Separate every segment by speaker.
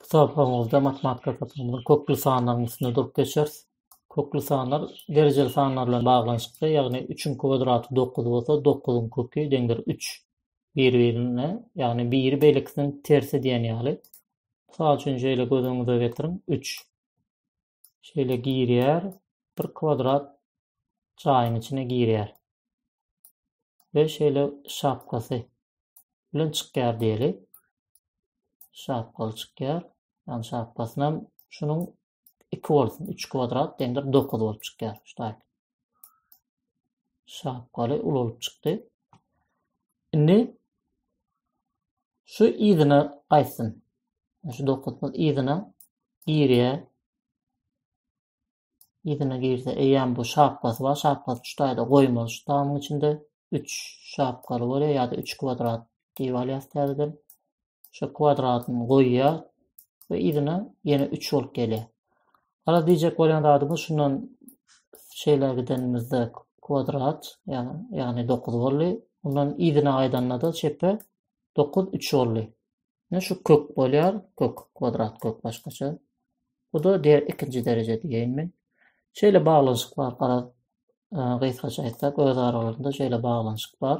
Speaker 1: Bu sapagyňyzda matematika sapagynyň kökli sanlaryň üstünde durup geçeris. Kökli sanlar derejeli sanlar bilen baglanyşykly, ýagny 3-iň kwadraty 9 bolsa, 9-yň köki deňdir 3. Bir-birine, ýagny biri beýlekisiniň tersi diýen ýaly. Mysal üçin şeýle göz öňüňize getiriň, 3. Şeýle girýär. Bir kwadrat jaýyň içine girýär. Ve şeýle şapkasy bilen çykýar diýeli. Şapkaly çykýar. Yani şapkasynam şunuň 2 bolsun. 3 kwadrat deňdir 9 bolup çykýar. Şuday. Şapgaly ulalyp çykdy. Indi şu yzyna gaýtsyn. Şu dokuzymyz yzyna girýär. Yzyna girse eýýäm bu şapgasy bar. Şapgasy şu taýda goýmaly şu tamyň içinde. Üç şapgaly bolýar ýa-da üç kwadrat diýip alýas täzeden. şu kwadratyny goýýar we yzyna ýene 3 bolup gelýär. Hala diýjek bolýan zadymyz şundan şeýle gidenimizde kwadrat, ýagny 9 boldy. Ondan yzyna gaýdanda-da çepe 9 3 boldy. Ýa şu kök bolýar, kök kwadrat kök başgaça. Bu da der ikinji dereje diýeýin men. Şeýle baglanyşyk bar, garaz, e, gysgaça aýtsak, öz aralarynda şeýle baglanyşyk bar.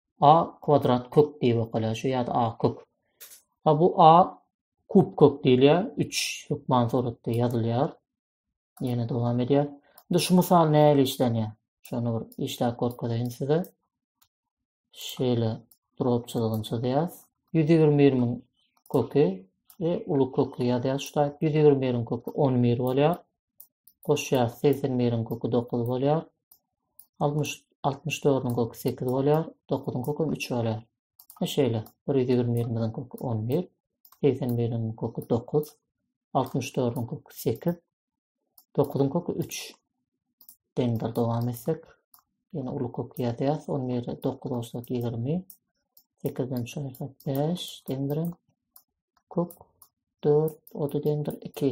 Speaker 1: A kwadrat kök diýip okaýar şu ýa-da A kök. A bu A kub kök diýilýär. 3 hökman suratda ýazylýar. Ýene dowam edýär. Indi şu mysal nähili işlenýär? Şony bir işläp görkezeýin size. Şeýle drop çyzygyny çyzýas. 121-iň köki we uly köki ýazýas şu taýp. 121-iň köki 11 bolýar. goşýarys, segsen biriň köki dokuz bolýar, altmyş, altmyş dördüň köki sekiz bolýar, dokuzyň köki hem üç bolýar. Ha şeýle, bir ýüz ýigrimi birimiziň köki on bir, segsen biriň köki dokuz, altmyş dördüň köki sekiz, dokuzyň köki üç. Deňdir dowam etsek, ýene uly köki ýazýarys, on biri dokuz ursak ýigrimi, sekizden üç aýyrsak bäş, deňdir hem kök dört, ody deňdir iki.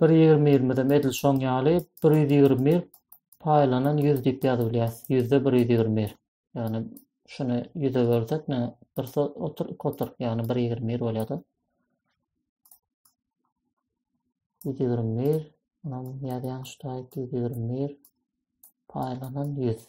Speaker 1: bir ýigrimi ýigrimidem edil şoň ýaly bir ýüz ýigrimi bir paýlanan ýüz diýip ýazyp bilýäs. Ýüzde bir ýüz ýigrimi bir. Ýagny şuny ýüze bölsek, ne bir otur, iki otur, ýagny bir ýigrimi bir bolýar-da. Ýüz ýigrimi bir, munam ýazýan şu taýyp ýüz ýigrimi bir paýlanan ýüz.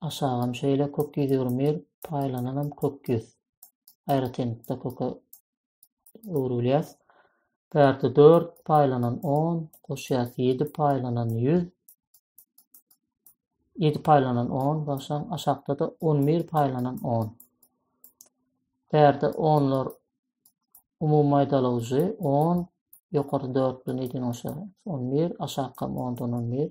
Speaker 1: Aşagam şeýle kök ýüz ýigrimi bir paýlananam kök ýüz. Aýratynlykda köke öwrülýär. Bärde dört paýlanan on, goşýas ýedi paýlanan ýüz. Ýedi paýlanan on, bagşaň aşakda-da on bir paýlanan on. Bärde onlar umumy maýdalygyjy on, ýokary dört bilen ýedini goşýas on bir, aşakam ondan on bir.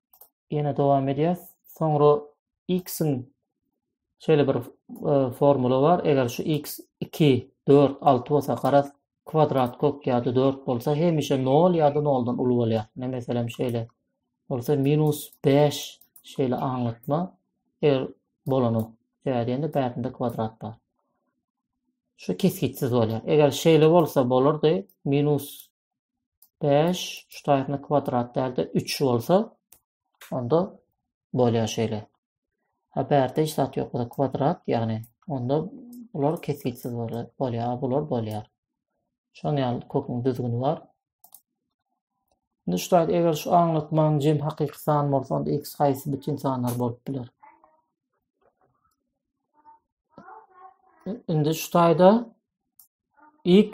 Speaker 1: Ýene dowam edýäs. Soňra x-iň şeýle bir e, formula bar. Eger şu x 2, 4, 6 bolsa garaz kwadrat kök ýa-da 4 bolsa hemişe 0 ýa-da 0-dan uly bolýar. Ne meselem şeýle bolsa minus 5 şeýle aňlatma eger bolany. Sebäbi diýende bärinde kwadrat bar. Şu kesgitsiz bolýar. Eger şeýle bolsa bolardy minus 5 ştaýtny kwadrat dälde 3 bolsa onda bolýar şeýle. Ha bärde hiç zat ýok bolsa kwadrat ýagny onda bular kesgitsiz bolýar, bular bolýar. Şoň ýaly köküň düzgüni bar. Indi ştaýt eger şu aňlatmaň jem hakyky san bolsa onda x haýsy bütin sanlar bolup biler? Indi ştaýda x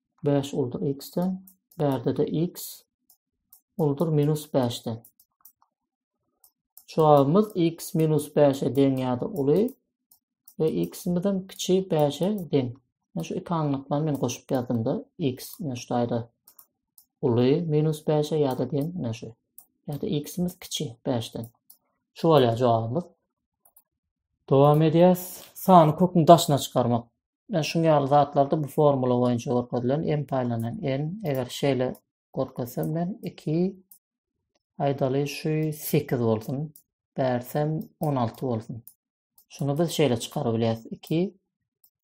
Speaker 1: 5 uldur x-den, bärde-de x uldur minus 5-den. Jogabymyz x minus 5-e deň ýa-da uly we x-imiz hem kiçi 5-e deň. Men şu iki anyklykdan men goşup ýazdymda x men şu taýda uly minus 5-e ýa-da deň men şu. Ýa-da x-imiz kiçi 5-den. Şu bolýar jogabymyz. Dowam edýäs. Sany köküň daşyna çykarmak. Ýa şuň ýaly zatlarda bu formula boýunça görkezilen m paýlanan n, eger şeýle görkezsem men iki, aýdaly şu sekiz bolsun, bärsem on alty bolsun. Şuny biz şeýle çykaryp bilýäris, iki,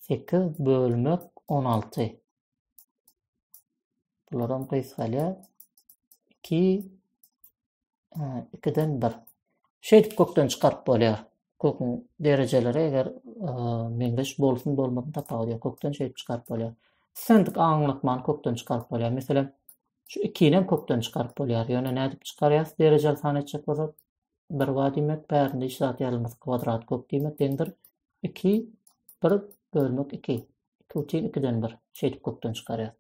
Speaker 1: sekiz bölmek on alty. Bularam gysgalýar. Iki, ikiden bir. Şeýdip kökden çykaryp bolýar. Köküň derejeleri eger meňzeş bolsun bolmasyn tapawudy ýok. Kökden şeýdip çykaryp bolýar. Islendik aňlatmany kökden çykaryp bolýar. Meselem, şu ikini hem kökden çykaryp bolýar. Ýöne nädip çykarýas? Derejeli san etjek bolsa 1 bar diýmek, bärinde hiç zat ýazylmasy kwadrat kök diýmek deňdir. 2 1 bölmek 2. 2 üçin 2-den 1. Şeýdip kökden çykarýar.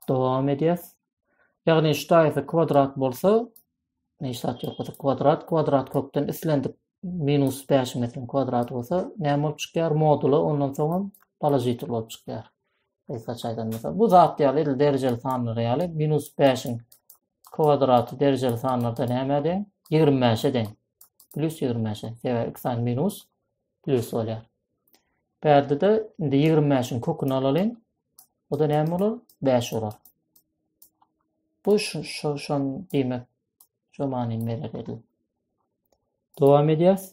Speaker 1: Dowam edýär. Ýagny şu taýsy kwadrat bolsa, neşat ýoksa kwadrat, kwadrat kökden islendik minus 5 mesiň kwadrat bolsa, näme bolup çykýar? Modula ondan soň hem položitel bolup çykýar. Gysgaça aýdanda, bu zat ýaly edil derejeli sanlar ýaly minus 5-iň kwadraty derejeli sanlarda näme deň? 25-e deň. Plus 25-e. Sebäbi iki sany minus Plus bolýar. Bärde-de indi 25-iň köküni alalyň. O da näme bolar? 5 bolar. Bu şu şon diýmek şu manyny berer edil. Dowam edýäs.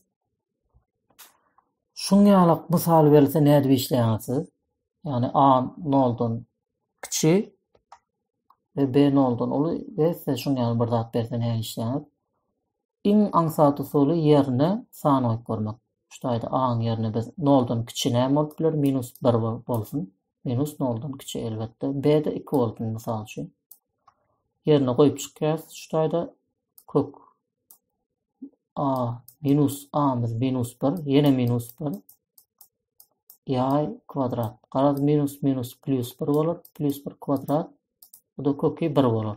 Speaker 1: Şuň ýaly mysal berilse nädip işleýäňiz siz? Ýagny A noldan kiçi we B noldan uly we size şuň ýaly bir zat berse nädip işleýäňiz? Iň aňsat usuly ýerine san goýup görmek. Şu taýda a-nyň ýerine biz noldan kiçi näme bolup biler? Minus bir bolsun. Minus noldan kiçi elbetde. B-de iki bolsun, mysal üçin. Ýerine goýup çykýas. Şu taýda kök a minus a-myz minus bir, ýene minus bir. Ýaý kwadrat. Garaz minus minus plus bir bolar. Plus bir kwadrat. Bu-da köki bir bolar.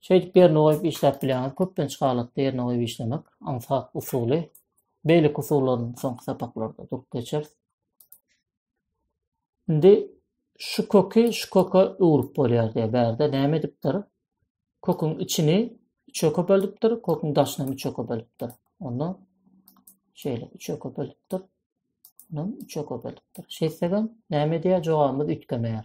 Speaker 1: Şeýdip ýerine goýup işläp bilýäňiz. Köplenç halatda ýerine goýup işlemek, aňsat usuly. Beýleki usullaryny soňky sapaklarda durup geçeris. Indi şu köki şu köke öwrüp bolýar diýär. Bärde näme edipdir? Köküň içini üçe köpeldipdir, köküň daşyny hem üçe köpeldipdir. Onda şeýle üçe köpeldipdir. Ondan üçe köpeldipdir. Şeýtsegem näme edýär? Jogabymyz üýtgemeýär.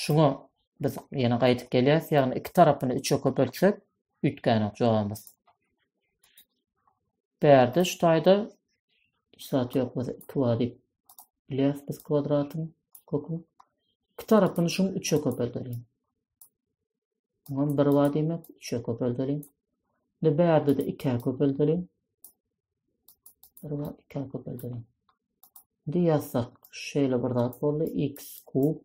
Speaker 1: Şuňa biz ýene gaýdyp gelýäs, ýagny iki tarapyny üçe köpeltsek, üýtgänok jogabymyz. Bärde şu taýda hiç zat ýok, biz 2 bar diýip bilýäris biz kwadratyň köküni. Iki tarapyny şuň üçe köpeldeliň. Ondan bir var demek, üçe köpeldeliň. Şimdi bärde de ikä köpeldeliň. Bir var ikä köpeldeliň. Şimdi yazsak, şöyle bir zat boldu. x kub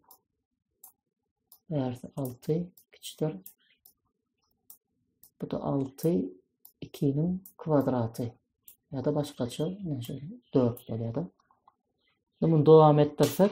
Speaker 1: bärde 6 kiçidir. Bu da 6 2'nin kvadratı. Ya da başkaça, yani 4 oluyor da. Bunu devam ettirsek,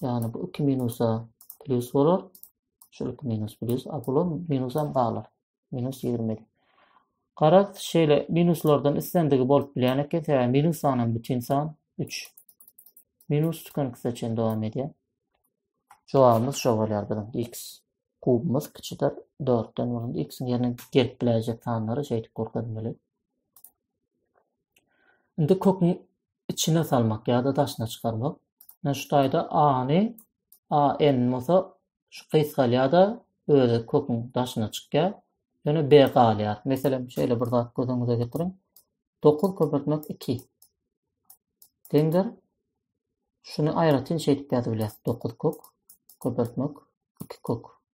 Speaker 1: Yani bu iki minusa plus olur. Şu iki minus plus. A bula minusam kalır. Minus 20. Karak şeýle minuslardan islendigi bolup bilýän eken. Sebäbi minus sanam bütin san 3. Minus tükenikse çen dowam edýär. Jogabymyz şo bolýar biziň x kubumyz kiçidir 4-den bolan x-iň ýerine gelip biläýjek sanlary şeýdip görkezmeli. Indi köküň içine salmak ýa-da daşyna çykarmak. Ine şu taýda a-ny a n bolsa şu gysgalýar-da özi köküň daşyna çykýar. Ýöne b galýar. Meselem, şeýle bir zat göz öňüňize getiriň. Dokuz köpeltmek iki. Deňdir. Şuny aýratyn şeýdip ýazybilýäs. Dokuz kök köpeltmek iki kök.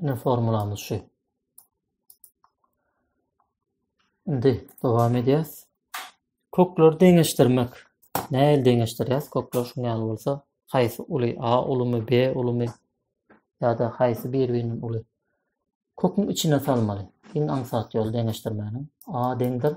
Speaker 1: Ine formulamyz şu. Indi dowam edýäs. Kökleri deňeşdirmek. Näil deňeşdirýäs? Kökler şu ýaly bolsa, haýsy uly? A ulumy, B ulumy ýa-da haýsy bir-birinden uly? Köküň içine salmaly. Iň aňsat ýol deňeşdirmäniň. A deňdir.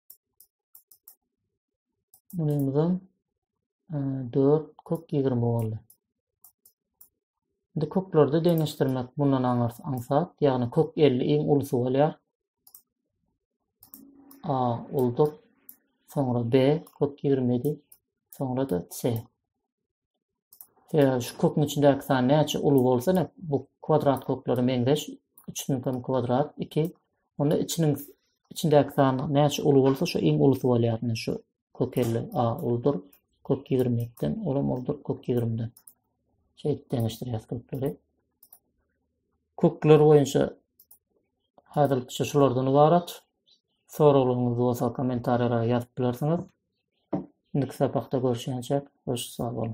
Speaker 1: Bunumuzdan 4 e, kök 20 boldy. Indi köklerde deňeşdirmek bundan aňar aňsat, ýagny kök 50 iň ulusy bolýar. A uldur, soňra B kök 27, soňra da C. Ýa şu köküň içindäki san näçe uly bolsa ine bu kwadrat köklere meňzeş üçüniň hem kwadrat iki onda içiniň içindäki san näçe uly bolsa şu iň ulusy bolýar ine şu kök elli a uludyr kök ýigrimi ekiden olam uludyr kök ýigrimiden şeýdip deňeşdirýäs kökleri kökler boýunça häzirlikçe şulardan ybarat soraglaryňyz bolsa kommentariýalara ýazyp bilersiňiz Indiki sapakda görüşençek hoş sag boluň.